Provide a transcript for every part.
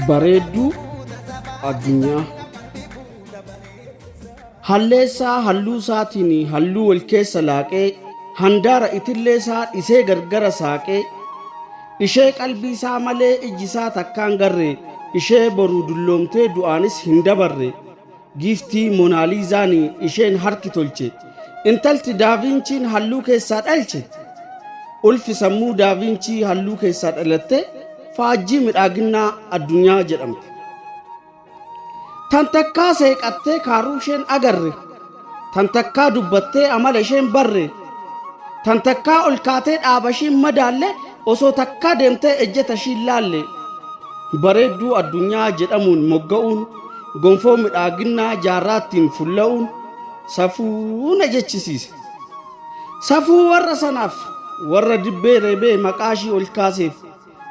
bareedduu addunyaa halleessaa halluu isaatiin halluu wal keessa laaqee handaara itillee isaa dhisee gargara saaqee ishee qalbii isaa malee ijji isaa takkaan garre ishee boruu dulloomtee du'aanis hin dabarre Giiftii Monaaliizaan isheen harki tolche, intalti Daaviinchiin halluu keessaa dhalche, ulfi sammuu Daaviinchii halluu keessaa dhalatte faajjii midhaaginnaa addunyaa jedhamte. Tan takkaa seeqattee kaaruu isheen agarre. Tan takkaa dubbattee amala isheen barre, tan takkaa ol kaatee dhaaba ishiin madaalle, osoo takkaa deemtee ejjeta ishiin laalle. Bareedduu addunyaa jedhamuun mogga'uun, gonfoo midhaaginnaa jaarraattiin fulla'uun safuu na jechisiise. Safuu warra sanaaf, warra dibbee reebee maqaa ishii ol kaaseef.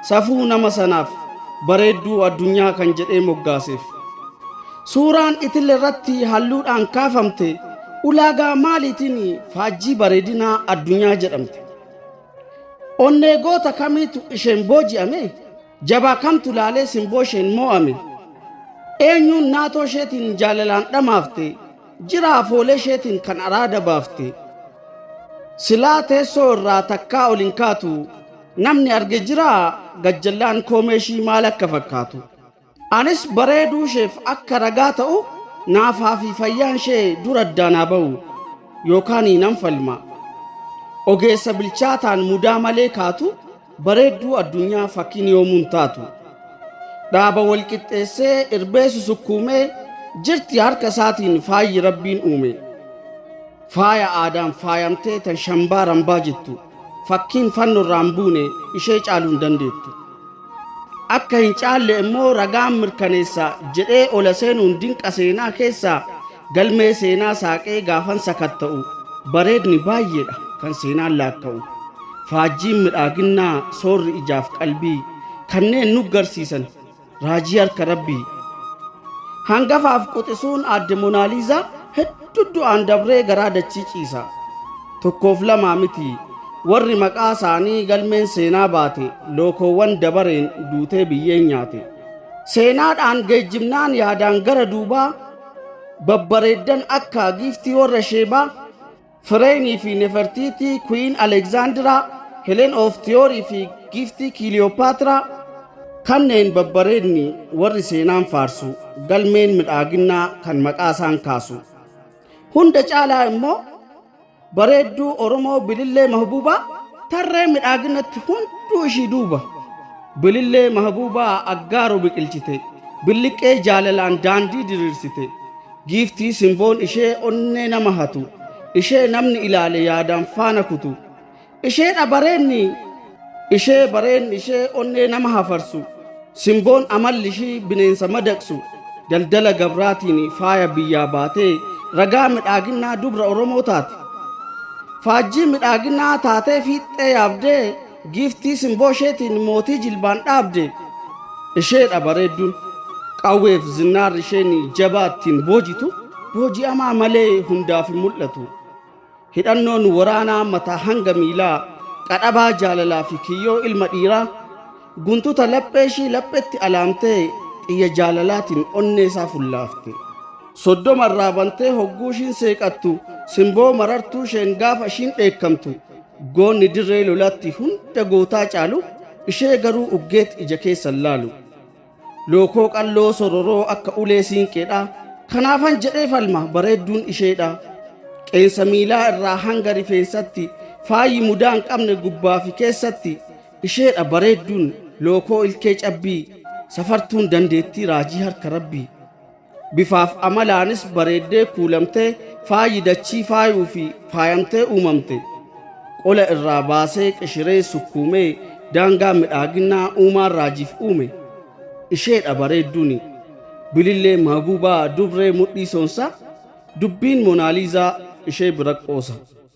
Safuu nama sanaaf bareedduu addunyaa kan jedhee moggaaseef. Suuraan itille irratti halluudhaan kaafamte ulaagaa maaliitiin faajjii bareedinaa addunyaa jedhamte? Onnee goota kamiitu isheen booji'ame? Jabaa kamtu laalee simboo isheen moo'ame? Eenyuun naatoo isheetiin jaalalaan dhamaafte? Jira afoolee isheetiin kan araada baafte? Silaa teessoo irraa takkaa ol hin kaatu, Namni arge jiraa gajjallaan koomee ishii maal akka fakkaatu. Anis bareeduu isheef akka ragaa ta'u naafaa fi fayyaan ishee dura addaan haa ba'u yookaan nan falma. Ogeessa bilchaataan mudaa malee kaatu bareedduu addunyaa fakkiin yoomuun taatu. Dhaaba wal qixxeessee irbee susukkuumee jirti harka isaatiin faayyi rabbiin uume. Faaya aadaan faayamtee tan shambaa rambaa jettu. Fakkiin fanno irraa hin buune ishee caaluu hin dandeettu. Akka hin caalle immoo ragaan mirkaneessa jedhee ola seenuun dinqa seenaa keessaa galmee seenaa saaqee gaafan sakatta'u bareedni baay'eedha kan seenaan laakka'u. Faajjiin midhaaginnaa soorri ijaaf qalbii kanneen nu garsiisan Raajii harka Rabbii. Hangafaaf quxisuun aadde Monaaliizaa hedduu du'aan dabree garaa dachii ciisa. Tokkoof lamaa miti warri maqaa isaanii galmeen seenaa baate lookoowwan dabareen duutee biyyeen nyaate. Seenaadhaan geejjibnaan yaadaan gara duubaa babbareeddan akka giiftii warra sheebaa Fireenii fi Nefertiitii, Kuwiin Aleeksaandiraa, Heleen oof Tiyoorii fi Giiftii Kiiliyoopaatiraa kanneen babbareedni warri seenaan faarsu galmeen midhaaginnaa kan maqaa isaan kaasu. Hunda caalaa immoo bareedduu Oromoo Bilillee Mahbuubaa tarree midhaaginatti hunduu ishii duuba. Bilillee mahabuubaa aggaaro biqilchite, billiqqee jaalalaan daandii diriirsite. Giiftii simboon ishee onnee nama hatu, ishee namni ilaale yaadaan faana kutu. Isheedha bareenni, ishee bareenni ishee onnee nama hafarsu. Simboon amalli ishii bineensa madaqsu. Daldala gabraatiin faaya biyyaa baatee ragaa midhaaginnaa dubra Oromoo taate. Faajjii midhaaginnaa taatee fiixxee yaabdee Giiftii simboo isheetiin mootii jilbaan dhaabde isheedha bareedduun. Qawweef zinnaarri isheen jabaa ittiin boojitu booji'amaa malee hundaaf hin mul'atu. Hidhannoon waraanaa mataa hanga miilaa qadhabaa jaalalaa fi kiyyoo ilma dhiiraa guntuta laphee ishii laphetti alaamtee xiyya jaalalaatiin onnee isaa fullaafte. Soddoma irraa bantee hogguu ishiin seeqattu simboo marartuu isheen gaafa ishiin dheekkamtu Goonni dirree lolaatti hunda gootaa caalu, ishee garuu uggeet ija keessan laalu. Lookoo qalloo sororoo akka ulee siinqeedha, kanaafan jedhee falma bareedduun isheedha. Qeensa miilaa irraa hanga rifeensatti, faayi mudaa hin qabne gubbaa fi keessatti, isheedha bareedduun lookoo ilkee cabbii, safartuun dandeettii raajii harka rabbii. Bifaaf amalaanis bareeddee kuulamtee faayi dachii faayuu fi faayamtee uumamte qola irraa baasee qishiree sukkuumee daangaa midhaaginnaa uumaan raajiif uume isheedha bareedduuni bilillee maagubaa dubree mudhii soonsaa dubbiin monaaliizaa ishee biraqqoosa.